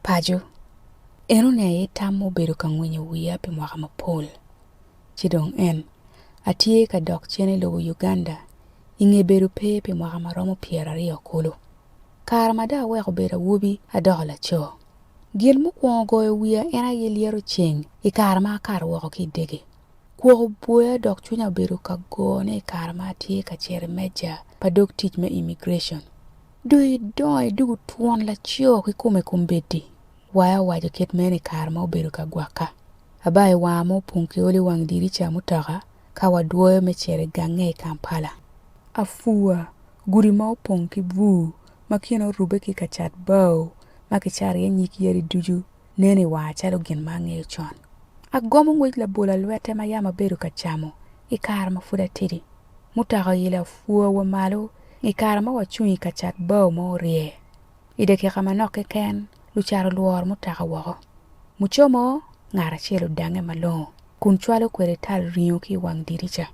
Paco, Enoni aye tam ma obedo ka ngwinyo wiya pi mwaka mapol. Ci dong en, Atye ka dok cen i lobo Uganda i nge bedo pe pi mwaka ma romo pyeraryo kulu. Kare ma dong aweko bedo awobi, adoko laco. Gin mukwongo goyo wiya en aye lyeto ceng i kare ma akato woko ki i dege. Kwok oboya dok cwinya obedo ka gone i kare ma atye ka cito i meja pa dog tic me immigration. Dong idong idwogo twon laco kikome kombeddi, waya owaco kit meno i kare ma obedo ka gwakka. Aba i wanga ma opong ki olo i wang dirica mutoka ka wadwoyo me cito i gange i Kampala. Afua, gudi ma opong ki bur ma kine orubbe ki ka cat bao ma kicato iye nyig yadi ducu neno i wanga calo gin ma angeyo con. Agomo ngwec labol alwette ma yam abedo ka camo i kare ma pud atidi. Mutoka oyila pwor wa malo i kare ma wacung i ka cat bao ma orye. I dakika manok keken, lucat olworo mutoka woko. Mucomo, ngat acel odange malongo kun cwalo kwede tal ringo ki i wang dirica.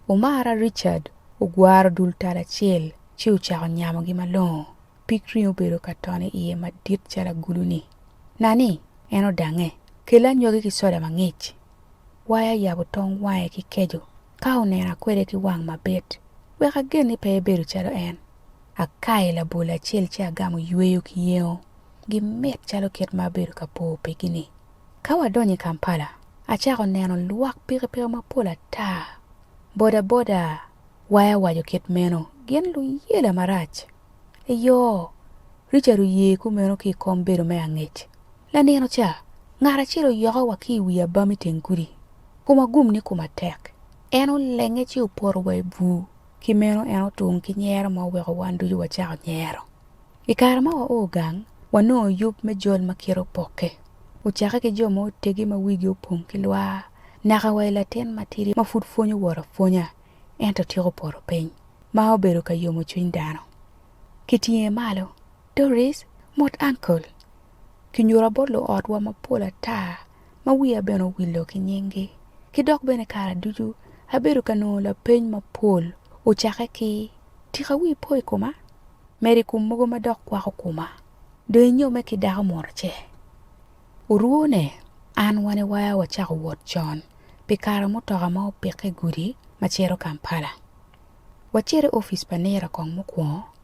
Omara Richard ogwaro dul tal acel ci ocako nyamogi malongo. Pig ringo obedo ka tone iye madit calo agulu-ni. Nani, en odange, Kel anyogi ki soda mangic, waya yabo tong wange ki keco ka onena kwede ki wang mabit, wek agen ni pe ebedo calo en. Akayo labol acel ci agamo yweyo ki yengo, gimit calo kit ma abedo ka po pigi-ni. Ka wadonyo i Kampala, acako neno lwak pikipiki mapol ata, bodaboda, waya waco kit meno, gin luyela marac. Eyo, Richard oye kumeno ki i kom bedo me angec, Lanino ca, ngat acel oyoko wa ki i wi abam i teng gudi. Koma gum ni koma tek. En olenge ci opoto wa i bur. Ki meno en otung ki nyero ma oweko wan ducu wacako nyero. I kare ma wao gang, wanongo yub me jol ma kite opokke. Ocakke ki jo ma otegi ma wigi opong ki lwar naka wa i latin matidi ma pud pwonyo wot apwonya ento tyeko poto piny, ma obedo ka yomo cwiny dano. Kitinge malo. Doris, mot Uncle. Kinyuta bot luotwa mapol ata ma wiya bene owillo ki nyinggi. Ki dok bene kara ducu abedo ka nongo lapeny mapol ocakke ki, Tika wii po i koma? Medo i kom mogo ma dok kwako koma. Dong inyome ki dako munu ce? Orwone, An wani waya wacako wot con pi kara mutoka ma opikke i gudi ma cito Kampala. Wacito i opic pa Nira kong mukwongo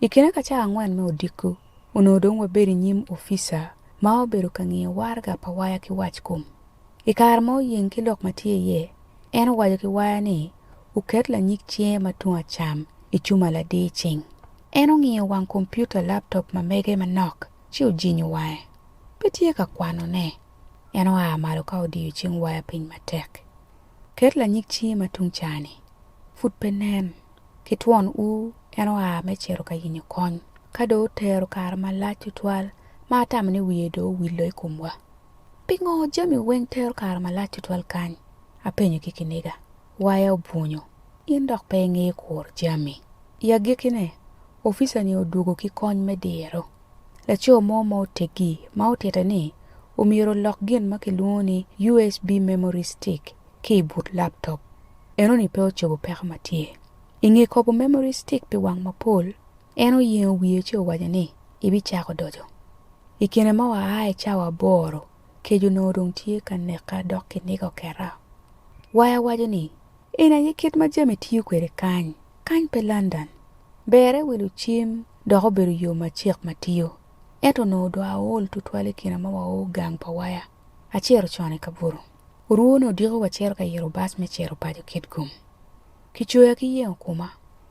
I kine ka cawa angwen me odiko, onongo dong wabedo i nyim opica ma obedo ka ngiyo waraga pa waya ki wackom. I kare ma oyeng ki lok ma tye iye, en owaco ki waya ni oket lanyig cinge ma tung acam i cuma ladir cing. En ongiyo wang kompiuta laptop ma mege manok ci ojinyo wange. Pe tye ka kwanone. En oa malo ka odiyo cing waya piny matek. Ket lanyig cingi ma tung ca-ni. Pud pe nen. Ki twon u en oa me cito ka yenyo kony. Ka dong otero kare malac tutwal, ma atamo ni wiye dong owillo i komwa. Pingo jami weng tero kare malac tutwal kany? apenyo ki kiniga. Waya obwunyo. In dok pe ingeyo kuro jami. I agikkine, opica-ni odwogo ki kony me diro. Laco mo ma oteggi ma otitte ni omyero olok gin ma kilwongo ni USB memory stick ki i but laptop. Enoni pe ocobo peko ma tye. I nge kobo memory stick pi wang mapol, en oyengo wiye ci owaco ni, Ibicako doco. I kine ma waa i cawa aboro, kec onongo dong tye ka neka dok kiniga oketa. Waya waco ni, En aye kit ma jami tiyo kwede kany. Kany pe London. Berre wi lucim dok obedo yo macek ma tiyo. Ento onongo dong aol tutwal i kine ma wao gang pa waya. Acito con i kabuto. Orwone odiko wa cito ka iro bas me cito paco Kitgum. Kicoya ki yengo kuma.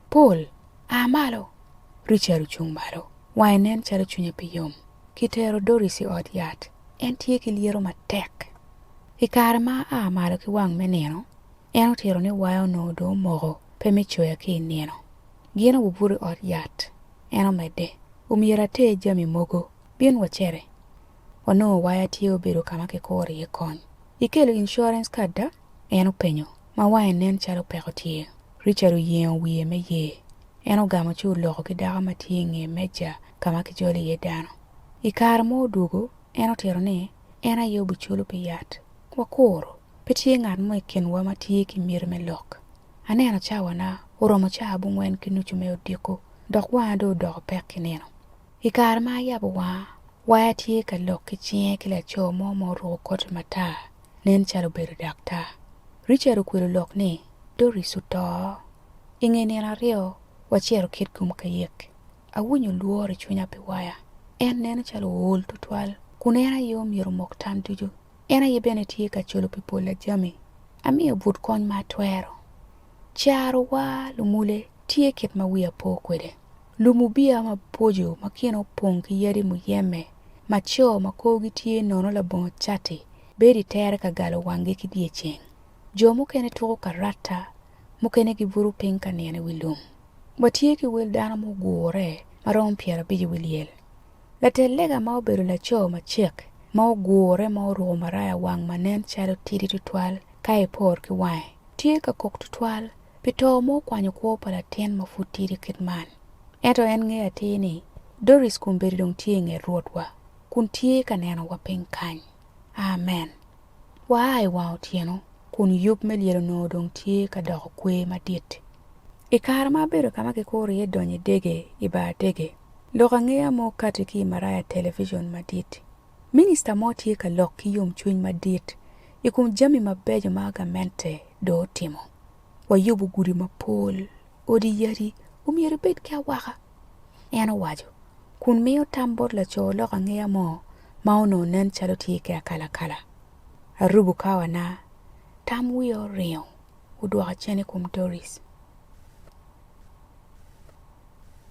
Paul, a malo! Richard ocung malo, wange nen calo cwinye pe yom. Kitero Doris i ot yat, en tye ki lyeto matek. I kare ma aa malo ki wang me nino, en otito ni waya onongo dong omoko pe me coya ki i nino. Gin obubuto i ot yat, en omedde. Omyero ater jami mogo. Bin wacere. Onongo waya tye obedo ka ma kikuro iye kony. Ikelo insurance card da? en openyo, ma wange nen calo peko tye. Richard oyengo wiye me ye. En ogamo ci oloko ki dako ma tye i nge meja ka ma kijolo iye dano. I kare mo odwogo, en otito ni, En aye obiculo pi yat. Wakuru! Pe tye ngat mo i kinwa ma tye ki miti me lok. Aneno cawana, oromo ca abongwen ki nucu me odiko, dok wanga dong odoko pek ki nino. I kare ma ayabo wanga, waya tye ka lok ki cinge ki laco mo ma oruko koti matar, nen calo obedo daktar. Richard okwelo lok ni, Doris oto! I nge nino aryo, wacito kit gum ka yek. Awinyo lworo i cwinya pi waya. En neno calo ool tutwal, kun en aye omyero omok tam ducu En aye bene tye ka colo pi pol a jami, amiyo but kony ma atwero. Carowa lumule tye kit ma wiya po kwede, lum ubiya maboco ma kine opong ki yadi muyeme, ma co ma korgi tye nono labongo cati bedo i tere ka galo wanggi ki dyeceng. Jo mukene tuko ka rata, mukene gibuto piny ka nino i wi lum. Watye ki wel dano mugure ma romo pyerabic i wi lyel, Later lega ma obedo laco macek ma ogure ma oruko maraya wang ma nen calo tidi tutwal ka epor ki wange, tye ka kok tutwal pi to ma okwanyo kwo pa latin ma pud tidi kit man. Ento en ngeyo atir ni Doris kombeddi dong tye i nget Rwotwa kun tye ka nenowa piny kany. Amen! Waa i wang otyeno kun yub me lyel onongo dong tye ka doko kwer madit. I kare ma abedo ka ma kikuro iye donyo idege i bar dege, Lok angeya mo kati ki i maraya television madit, minista mo tye ka lok ki yomcwiny madit i kom jami mabeco ma gamente dong otimo. Wayubo gudi mapol, odi yadi omyero ebed ki awaka, en owaco, kun miyo tam bot laco lok angeya mo ma onongo nen calo tye ki akalakala. Arubo kawana, tam wiya oringo, odwoka cen i kom Doris.